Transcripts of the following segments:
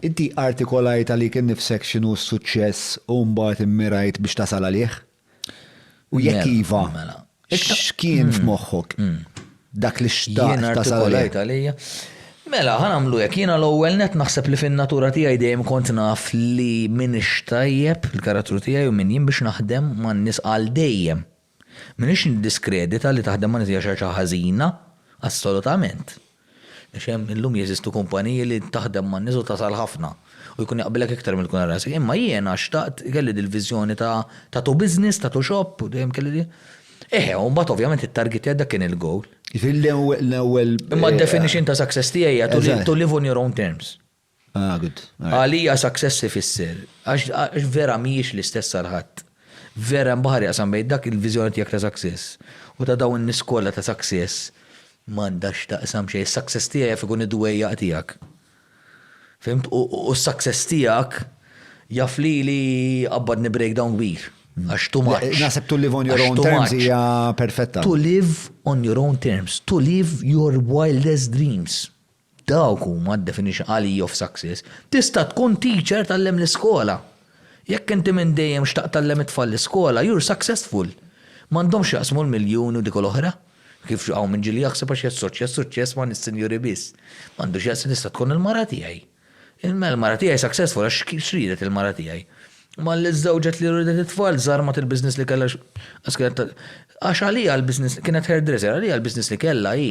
Inti artikolajt għalik innifsek x'inhu s-suċċess u mbagħad immirajt biex tasal għalih? U jekk Mela, iva, mela. x'kien f'moħħok? Dak li Jien xtaqt tasal artikolajt għalih? għalija. Mela, ħan għamlu hekk, jiena l-ewwel net naħseb li fin-natura tiegħi dejjem kont naf li min ixtajjeb il-karattru tiegħi u min jien biex naħdem man-nies għal dejjem. M'iniex niddiskredita li taħdem ma' nies hija xi ħaġa ħażina, assolutament. Għax hemm illum jeżistu kumpaniji li taħdem man-nies u tasal ħafna u jkun jaqbilek iktar milli tkun għal rasek. Imma jiena xtaqt, kelli dil-viżjoni ta' tattoo business, tattoo shop u dejjem kelli din. Eħe, u mbagħad ovvjament it-target tiegħi dak kien il-goal. Jiġifieri l-ewwel. Imma d-definition ta' success tiegħi hija to live on your own terms. Għalija success ifisser, għax vera mhijiex l-istess għal ħadd. Vera hemm baħar jaqsam bejn dak il-viżjoni tiegħek ta' success u ta' dawn in-nies kollha ta' success m'għandha x'taqsam xejn. Is-success tiegħi jaf ikun id-dwejjaq tiegħek. Fhimt? U s-success tiegħek jaf lili jqabbadni breakdown kbir. Għax too much. Naħseb to live on your own terms hija perfetta. To live on your own terms. To live your wildest dreams. Dawk huma d-definition għalija of success. Tista' tkun teacher tgħallem l-iskola. Jekk inti minn dejjem xtaqt tgħallem it-tfal l-iskola, you're successful. M'għandhomx x'jaqsmu l-miljuni u dik u l-oħra. Kif hawn min ġieli jaħseb għax jassoċja s-suċċess ma' nies sinjuri biss. M'għandu x'jaqsam tista' tkun il-mara tiegħi. Mela l-mara tiegħi successful għax x'riedet il-mara tiegħi? Malli żżewġet li riedet it-tfal, żarmat il-business li kellha għax kienet għax għaliha l-business kienet hairdresser, għaliha l-business li kellha hi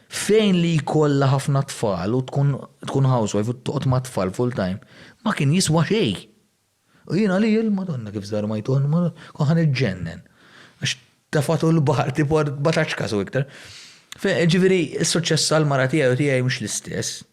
Fejn li jkollha ħafna tfal u tkun tkun housewife u toqgħod mat-tfal full time, ma kien jiswa xejn. U jien għalija, il-Madonna kif żarmajtuha l-Madonna, kont ħa niġġennen. Għax tefgħetu l-baħar tipo 14 każ u iktar. Jiġifieri s-suċċess għall-mara tiegħi u tiegħi mhux l-istess.